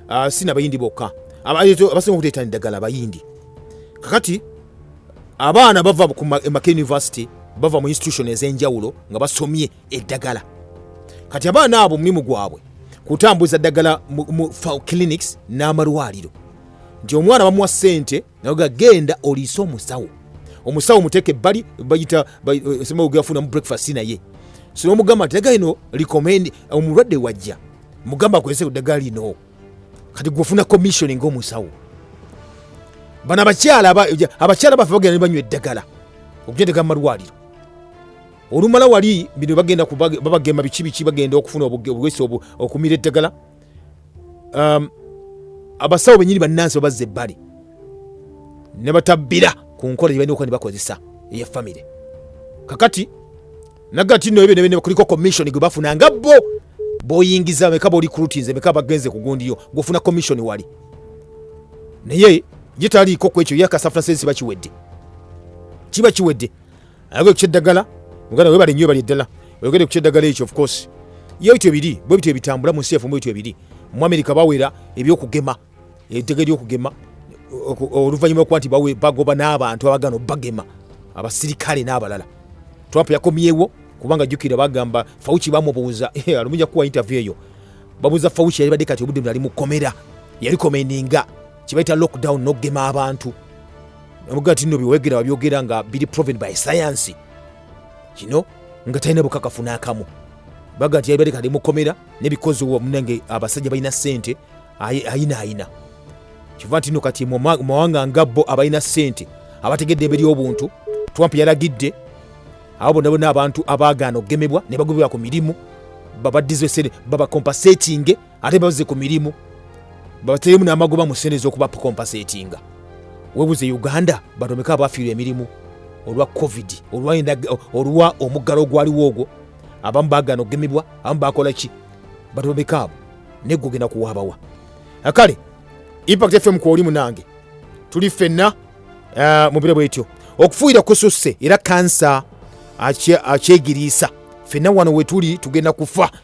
ah, si nabayindi bokka abasinga okuteetana eddagala abayindi kakati abaana bava emaka university bava mu institution ez'enjawulo nga basomye eddagala kati abaana abo omulimu gwabwe kutambuza ddagala mu clinics n'amalwaliro nti omwana bamuwa ssente naga genda oliise omusawo omusawo muteeka ebbali bayita eh, semaogeafunamu breakfast naye sinomugamba nti eddagala lino recommend omulwadde wajja mugamba akozese eddagala lino kati gwofuna commissioning omusawo bano abakyala abakyala baffe bagenda nebanywa eddagala okujendeka mu malwaliro olumala wali bino bagenda babagema biki biki bagenda okufuna obugesi okumira eddagala um, abasawo benyini bannansi babazza ebbali ne batabbira ku nkola gye balina okuba ne bakozesa eya famire kakati nagati no ebyo nebene kuliko commission gwe bafuna nga bo boyingiza meka boli kulutinze meka bagenze kugundiyo gufuna commission wali naye ye taliiko ku ekyo yakasafuna sensi bakiwedde kiba kiwedde ayagala okukya eddagala muganda webale nnyo ebali eddala oyogede kukya eddagala ekyo ofcourse yo bityo biri bwe bityo ebitambula mu nsi yaffe mu bityo ebiri mu amerika bawera ebyokugema eddagala eryokugema oluvannyuma lwokuba nti bagoba n'abantu abagana obagema abasirikale n'abalala trump yakomyewo kubanga jjukira bagamba fauci bamubuuza eh, alumuja kuwa interview eyo babuuza fauci yali badde kati obudde bnali mukomera yalikomendinga kibaita lockdown nokugema abantu nabuga ti no byowegera wabyogera nga biri proven by science kino nga talina bukakafu n'akamu baga nti yalibadde kali mukomera nebikozi munange abasajja balina sente ayina ayina kiva ntino kati mumawanga nga bo abalina sente abategedde ebe lyobuntu trump yalagidde abo bona bona abantu abagaana okugemebwa ne bagobebwa ku mirimu babaddize sente babakompasetinge ate bazze ku mirimu babateremu n'amagoba mu sente ez'okuba pukompasetinga webuze uganda batomeka abafiirwa emirimu olwa covid olwa omuggalo ogwaliwo ogwo abamu bagana okugemebwa abamu bakola ki batomeka abo naye gogenda kuwaabawa kale impact fm kwoli munange tuli ffenna eh, mu biro bwetyo okufuuyira kususse era kansa akyegiriisa ffenna wano wetuli tugenda kufa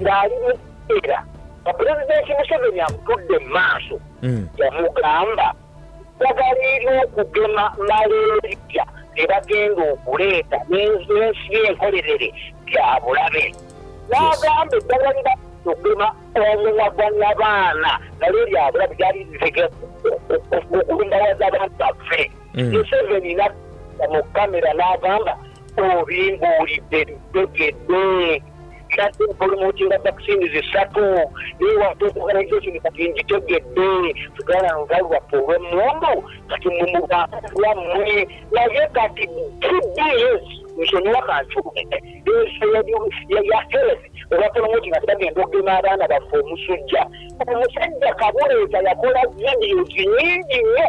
ng'ali mu era nga pulezidenti museveni amutudde mu maaso mm. yamugamba eddagala ery'okugema malaria lye bagenda okuleeta n'ensi enkolerere bya bulabe n'agamba eddagala lye bagenda okugema omumwa gwa nyabaana nalyo lya bulabe lyali lizege okulumbawaza abantu baffe mm. museveni natta mu kamera n'agamba obimbuulidde bitegedde kati mpulumuutinga vaccine zisatu naye watu organisation kati ngitegedde tugala nga lwaffe olwemmundu kati mumubaawammwe naye kati tbs nsonyiwa kancuume ensi ya health olwapulumuutinga tebagenda okugema abaana baffe omusujja omusajja kabuleeta yakola vidios nyingi nnyo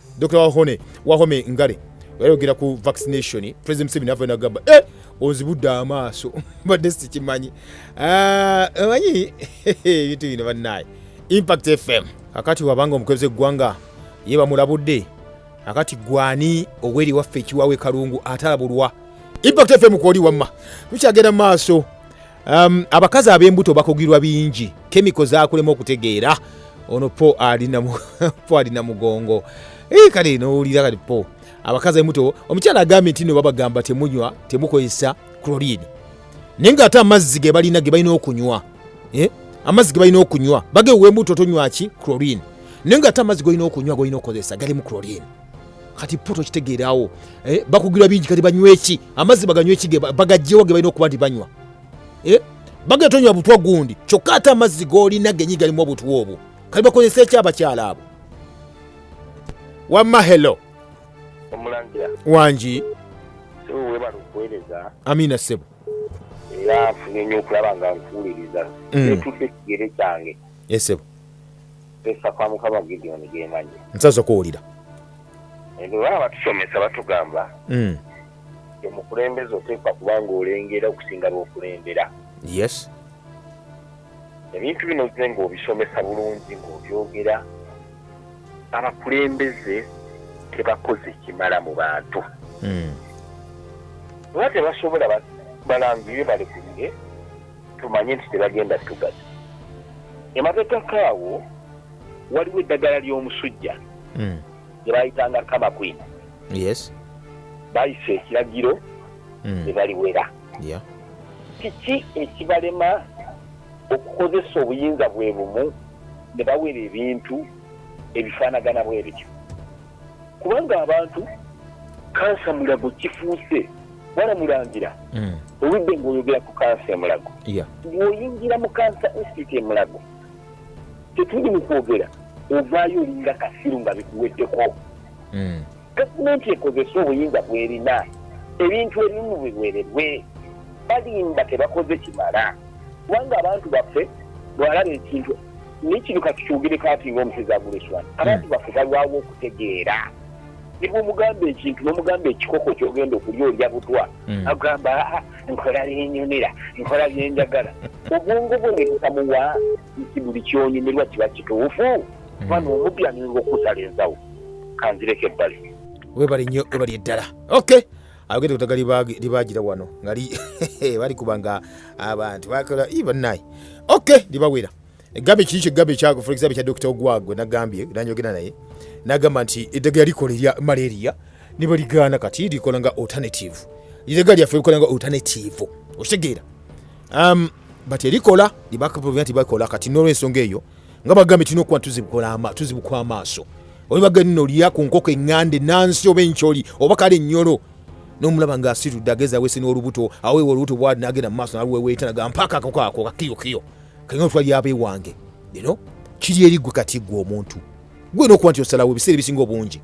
Dr. Wahone, Wahome Ngale yayogera ku vaccination president Museveni ava nagamba eh onzibudde amaaso mbadde sikimanyi ah, manyi ebintu bino bannaye impact fm akati wabanga omukulembeze eggwanga ye bamulabudde akati gwani oweri waffe ekiwawe kalungu atalabulwa impact fm kwoli wamma tukyagenda maaso Um, abakazi ab'embuto bakugirwa bingi kemiko zakulema okutegeera ono po alina mugongo eh, kale nowulira kati po abakazi abemuto omukyala agambye nti no babagamba temunywa temukozesa chlorine naye nga ate amazzi ge balina ge balina okunywa eh, amazzi ge balina okunywa bagewembuto tonywaki chlorine naye nga ate amazzi golina okunywa golina okukozesa galimu chlorine kati poto kitegeerawo eh, bakugirwa bingi kati banyweki amazzi baganyweki bagajjewo ge balina okuba nti banywa eh, bagenda tonywa butwa gundi kyokka ate amazzi golina genyi galimu obutwa obwo kati bakozesa ekyo abakyala abo wamma helo omulangira
wangi
sebo
webala okuweereza amiina sebo
era
nfunye nnyo okulaba nga nkuwuliriza mm. etuuka ekigere kyange esebo
eh, Pesa
kwa mukama Gideon gemanyi. Nsaso kuwulira.
Ebe
wala batusomesa batugamba. Mm. Omukulembeze oteekwa kuba ng'olengera okusinga lw'okulembera. Yes. Ebintu bino zze ng'obisomesa bulungi ng'obyogera abakulembeze tebakoze kimala mu bantu. Mm. Oba tebasobola balangire balekulire. tumanye nti tebagenda tugaza emabegako awo waliwo eddagala ly'omusujja hmm. gye bayitanga kama kwina
bayisa
ekiragiro hmm. ne baliwera kiki ekibalema okukozesa obuyinza bwe bumu ne bawera ebintu ebifaanagana bwe bityo kubanga abantu kansa mulago kifuuse wala mulangira mm.
oludde ngaoyogera ku kansa emulago ngaoyingira mu kansa institute emulago tetuli mu kwogera ovaayo olinga kasiru nga bikuweddeko mm. gavumenti ekozesa obuyinza bwerina ebintu ebimu biwerebwe balimba tebakoze kimala kubanga abantu baffe bwalaba ekintu nekino kati kyogere kati nga omusezi aguleswa hmm. abantu baffe balwawo okutegeera nebwomugamba ekintu nomugamba ekikoko kyogenda okulya olya butwa hmm. agamba ah, nkola byenyumira nkola byenjagala obwongo bwe nebutamuwa nti buli kyonyumirwa kiba kituufu hmm. bana omupya ninga okusala ensawo kanzireko ebbali webali nnyo webali
eddala okay ayogedde kutaga libaagira wano nga balikuba nga abantu bakola i bannaye ok libawera egambe kiri kyegambe kyako for example kya dokita ogwagwe nagambye nanyogera naye nagamba nti eddagala likola erya malaria nibaligaana kati likola nga alternative eddagala lyaffe likola nga alternative okitegeera um, but erikola libakubira nti bakola kati nolwensonga eyo nga bagambye tulina okuba tuzibukwa amaaso olibagenda olya ku nkoko eŋŋande nansi oba enkyoli oba kale ennyolo nomulaba nga asitudde ageza wese n'olubuto aweewa olubuto bwali nagenda mu maaso naluweweeta naga mpaaka akako ako kakiyokiyo kaina otwali aba ewange ino kiri eri gwe kati gwe omuntu gwe nokuba nti osalawo ebiseera ebisinga obungi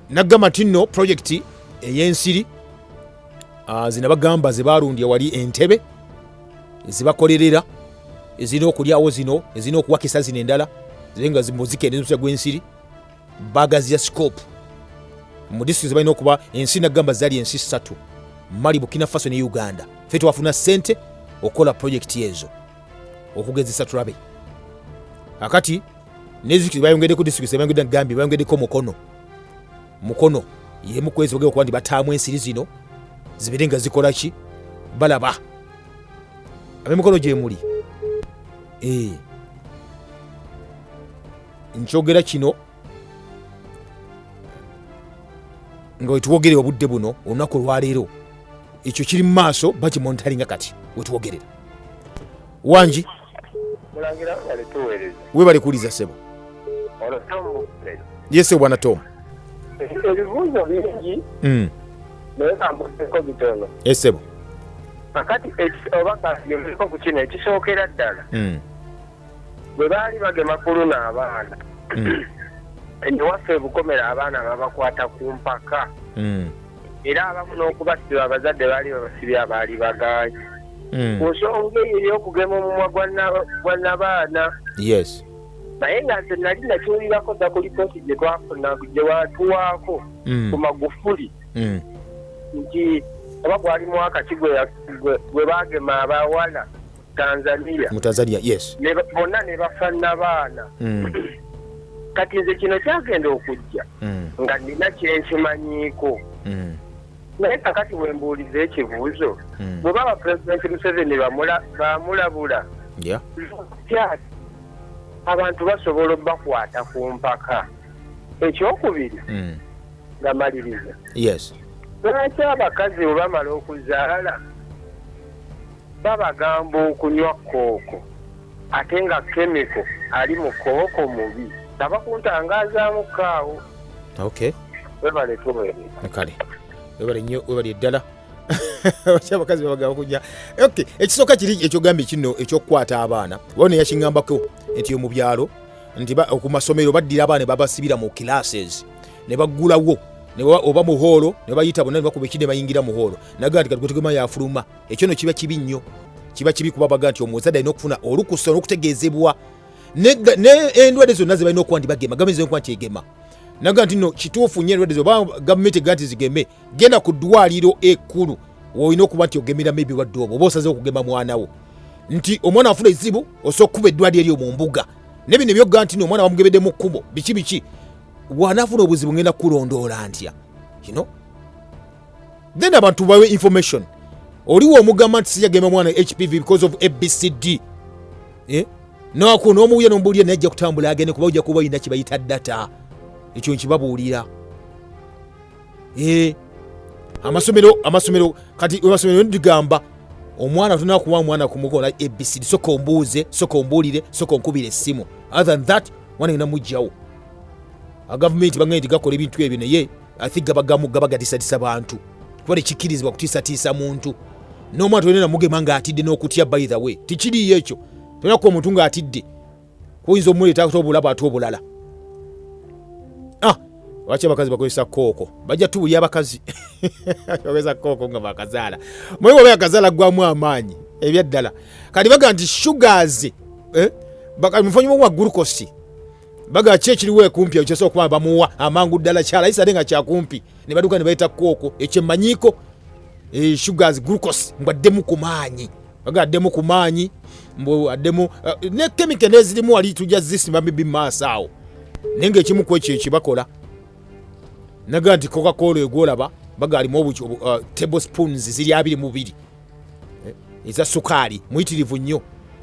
naggamba nti nno pulojekiti ey'ensiri ah, zina bagamba ze balundya wali entebe ezibakolerera ezirina okulyawo zino ezirina okuwakisa zino endala zibe nga muzikendezmusya gw'ensiri bagaziya sikopu mu disitulikiti ze balina okuba ensi naggamba zali ensi ssatu mali bukina faso ne uganda fe twafuna ssente okukola pulojekiti ezo okugezesa tulabe akati nezikiti bayongedeko district bayongedde gambye bayongedeko mukono mukono yemu kwezi bagenda okuba nti bataamu ensiri zino zibeere nga zikola ki balaba abemikono gyemuli eh. nkyogera kino nga wetwogerera obudde buno olunaku olwaleero ekyo kiri mu maaso bakimonitaringa kati wetwogerera wangi webale kuwuliza sebo yese bwana tom ebibuuzo
bingi hmm. naye kambuseko bitono esebo
kakati
oba kayoeko ku kino ekisookera ddala hmm. bwe baali bagema kuluna abaana hmm. ewaffe ebukomera abaana babakwata ku mpaka era abamu n'okubasiba abazadde baali babasibye abaali bagaanyi hmm. ku nsonga eyo ey'okugema omumwa gwa nabaana yes
naye nga nze
nali nakiwulirako dda ku lipooti gye twafuna gye watuwaako hmm. ku magufuli hmm. nti oba gwali mwaka ki gwe baagema abawala tanzania mu tanzania yes bonna
ne bafanna
baana mm. kati nze kino kyagenda okujja mm. nga nina kyenkimanyiiko mm. naye kakati wembuuliza ekibuuzo mm. bwe baba pulezidenti museveni bamulabula tyati abantu basobola obakwata ku mpaka ekyokubiri mm. nga maliriza
lwaki
abakazi bwe bamala okuzaala Babagamba okunywa kooko ate nga kemiko ali mu kooko mubi tava kuntangazaamu ko awo. Okay.
Webale
tuwereza. Kale.
Webale nnyo webale ddala. Bakya abakazi babagamba okunywa. Okay. Ekisooka kiri ekyogambye kino ekyokukwata abaana. Waliwo ne yakingambako nti mu byalo nti ku masomero baddira abaana ne babasibira mu classes ne baggulawo oba muhoolo ne bayita bonna ne bakuba eki ne bayingira muhoolo nagaa nti kati gwe tugema yafuluma ekyo no kiba kibi nnyo kiba kibi kuba baga nti omuzadde alina okufuna olukusa n'okutegeezebwa n'endwadde zonna ze balina okuba nti bagema gavumenti zirina okuba nti egema naga nti no kituufu nnyo endwadde zoba gavumenti ega nti zigeme genda ku ddwaliro ekkulu woolina okuba nti ogemeramu ebirwadde obwo oba osaze okugema mwana wo nti omwana afuna ezibu osobola okukuba eddwaliro eryo mu mbuga ne bino ebyoga nti no omwana bamugebedde mu kkubo biki biki wanaafuna obuzibu ngenda kulondoola ntya you know? then abantu bawe information oliwo omugamba nti sijagenda omwana hpv because of abcd eh? naku nomuwuya nomubuulira naye ajja kutambula agende kuba ojja kuba olina kibayita data ekyo nkibabuulira eh? amasomero amasomero kati amasomero ndigamba omwana tuna kuwa mwana kumukola abcd soka ombuuze soka ombuulire soka onkubira essimu other than that mwana yona mujjawo agavumenti bagenda nti gakola ebintu ebyo naye athi gabagamu gabagatiisatiisa bantu kuba tekikkirizibwa kutiisatiisa muntu n'omwana tolina namugema ng'atidde n'okutya by the way tekiriyo ekyo tolina kuba omuntu ng'atidde oyinza omuleetato obulaba ate obulala ah, lwaki abakazi bakozesa kooko bajja tubulya abakazi bakozesa kooko nga bakazaala mwe oba yakazaala gwamu amaanyi ebyaddala kati baga nti sugars eh, mufanyimu wa gulukosi baga ki ekiriwo ekumpi ekyo kyosobola okuba bamuwa amangu ddala kyala yisade nga kyakumpi ne baduka ne bayita kooko ekyo emmanyiiko eh, sugars glucose mbu addemu ku maanyi baga addemu ku maanyi mbu addemu eh, ne kemike nezirimu wali tujja zisimba mibi maaso awo naye nga ekimu ku ekyo ekibakola naga nti coca cola egwolaba baga alimu eh, table spoons ziri abiri mubiri eh, eza sukaali muyitirivu nnyo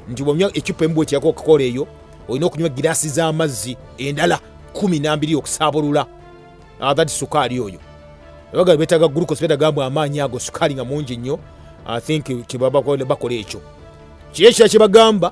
nti bwonywa ecupa emu bwekyako okukola eyo olina okunywa giraasi z'amazzi endala kumi nambiri okusaabulula that sukaali oyo abaga betaga glucose betaga mbu amaanyi ago sukaali nga mungi nnyo i think kyebabakola ekyo kiri ekira kyebagamba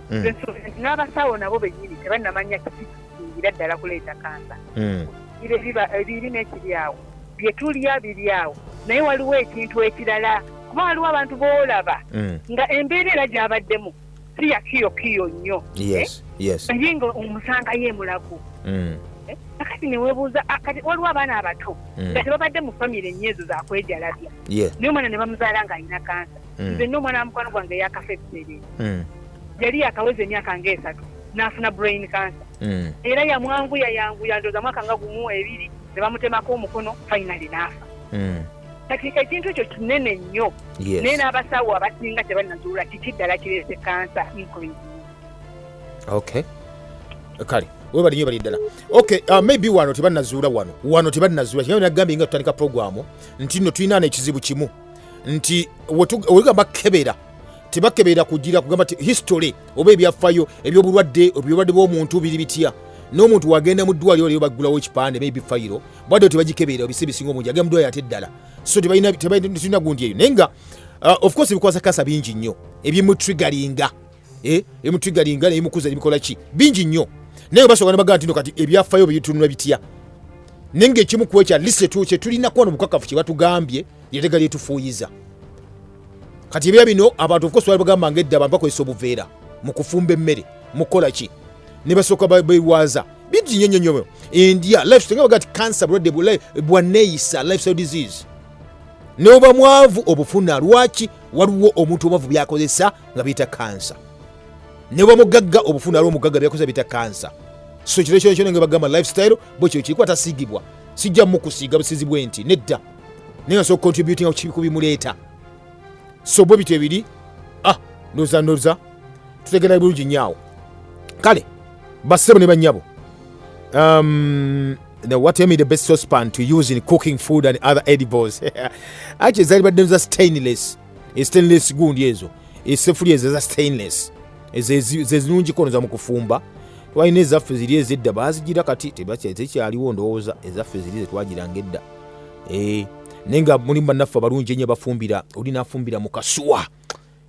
mm. n'abasawo nabo benyini tebanamanya kikisingira ddala kuleeta kansa mm. ebiri n'ekiri awo bye tulya biri awo naye waliwo ekintu ekirala kuba waliwo abantu boolaba mm. nga embeera era gyabaddemu si yakiyokiyo nnyo eh? naye nga omusangayo emulago kakati newebuuza ah, kati waliwo abaana abato mm. nga tebabadde mu famiry enyo ezo zakwejalabya naye omwana nebamuzaala nga alina kansa mm. nze nno omwana wa mukwano gwange yakafa ebiseere mm. yali yakaweza emyaka nga esatu n'afuna brain cancer mm. era yamwanguya yanguya ndoza mwaka nga gumu ebiri ne bamutemako omukono finally n'afa mm. kati ekintu ekyo kinene nnyo yes. naye n'abasawo abasinga tebanazuula kiki ddala kireese kansa increase
okay kale webali nyo bali ddala okay uh, maybe wano tebanazuula wano wano tebanazuula kigambye nagambye nga tutandika programu nti no tulina nekizibu kimu nti wegamba kebera tebakebera kugira kugamba ti history oba ebyafayo ebyobulwadde ebyobulwadde bwomuntu biri bitya n'omuntu wagenda mu ddwaliro lyo baggulawo ekipande maybe fayiro bwadde tebagikebera ebisi ebisinga omungi agenda mu ddwaliro ate ddala so tebalina gundi eyo naye nga uh, of course ebikwasa kansa bingi nnyo ebimutrigalinga eh, emutwigalinga naye mukuza nebikola ki bingi nnyo naye basobola nebagaa ntino kati ebyafayo byebitunula bitya naye ngaekimu ku ekyo atlist kyetulina kuba nobukakafu kyebatugambye lyetega lyetufuuyiza kati ebya bino abantu ofukosobola bagamba ngaedda abantu bakozesa obuveera mu kufumba emmere mukukola ki ne basooka bewaaza bingi nnyo nnyo nnyo endya lifestyle nga bagaa ti cancer bulwadde bwaneeyisa lifestyle disease noba mwavu obufuna lwaki waliwo omuntu obavu byakozesa nga biyita kansa ne bwa mugagga obufuna aliwo omugagga byakoza biyita kansa so kiro kyona kyona nga bagamba lifestyle bwe kyo kiriko atasiigibwa sijja mukusiiga busizi bwe nti nedda naye ngasobola contributinga kukibiku bimuleeta so bwe bityo ebiri ah ndoza ndoza tutegera bulungi nyaawo kale basebo ne banyabo um, Now, what tell me the best saucepan to use in cooking food and other edibles? Actually, it's stainless. stainless gundi ezo esefuli ezo eza stainless zezirungiko noza mu kufumba twalina ezaffe ziri ezedda bazigira kati tekyaliwo ndowooza ezaffe ziri zetwagiranga edda eh, naye nga mulimu bannaffe abalungi enyo bafumbira oli nafumbira mu kasuwa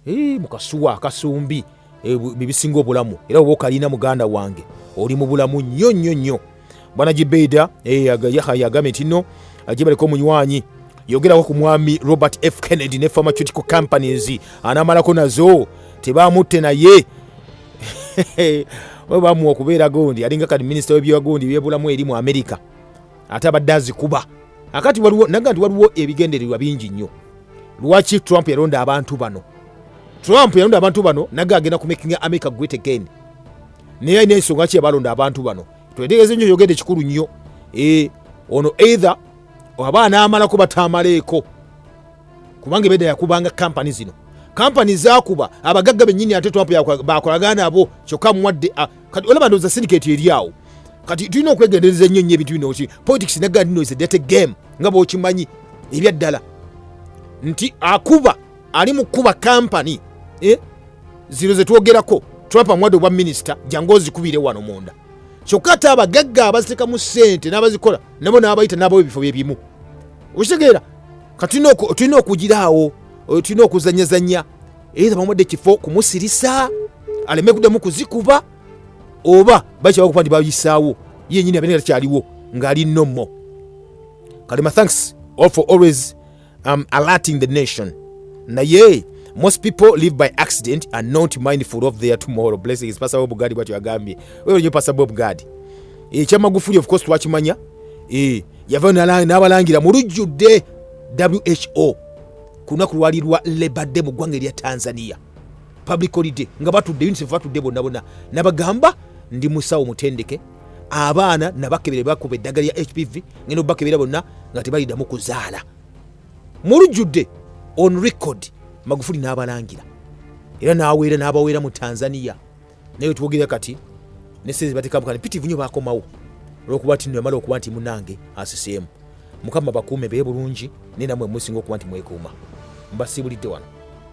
eh, mu kasuwa akasumbi eh, bibisinga obulamu era oba okalina muganda wange oli mu bulamu nnyo nnyo nnyo bwana gibeida eh, yagambye nti no ajebaleko omunywanyi yogerako ku mwami robert f kennedy ne pharmaceutical companies anamalako nazo tebamutte naye bamuwa okubeera gondi alinga kati minisita webyagondi byebulamu eri mu amerika ate abadde azikuba akati waliwo naga nti waliwo ebigendererwa bingi nnyo lwaki trump yalonda abantu bano trump yalonda abantu bano naga agenda kumakinga america great again naye alina ensonga ki yabalonda abantu bano twetegeeze nyo yogedde kikulu nnyo e, ono either aba anaamalako bataamaleeko kubanga ebedda yakubanga kampani zino kampani zakuba abagagga bennyini ate trump bakolagana nabo kyokka muwadde kati olaba ndoza syndicate eri awo kati tulina okwegendereza nnyo nnyo ebintu bino ki politics ne gandi noise date game nga bwokimanyi ebyaddala nti akuba ali mu kukuba kampani eh? zino ze twogerako trump amuwadde obwa minisita jangu ozikubire wano munda kyokka ate abagagga abazitekamu ssente n'abazikola nabo n'abayita n'abawo ebifo bye bimu okitegeera kati tulina okugiraawo tulina okuzanyazanya eitha bamuwadde ekifo kumusirisa aleme kudamu kuzikuba oba bakyawa okuba nti bayisaawo yenyini abeera takyaliwo ng'ali nomo kalema thanks all for always um, alerting the nation naye most people live by accident and not mindful of their tomorrow blessings pasa bob gadi bwatyo yagambye wewe nyo pasa bob gadi ekya magufuli of course twakimanya e, yavayo n'abalangira mu lujjudde who ku lunaku lwali lwa labour day mu ggwanga erya tanzania public holiday nga batudde unicef batudde bonna bonna nabagamba ndi musawo mutendeke abaana nabakebere bakuba eddagala lya hpv ngenda obakebera bonna nga tebalidamu kuzaala mulujjudde on record magufuli n'abalangira era n'aweera n'abaweera mu tanzania naye wetwogerera kati ne sente batekamu kati pitivu nyo bakomawo olwokuba tino yamala okuba nti munange asiseemu mukama bakuume bee bulungi naye namwe musinga okuba nti mwekuuma mbasiibulidde wano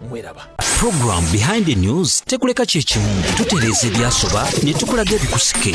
mweraba program
behind the news tekuleka kyekimu tutereeza ebyasoba ne tukulaga ebikusike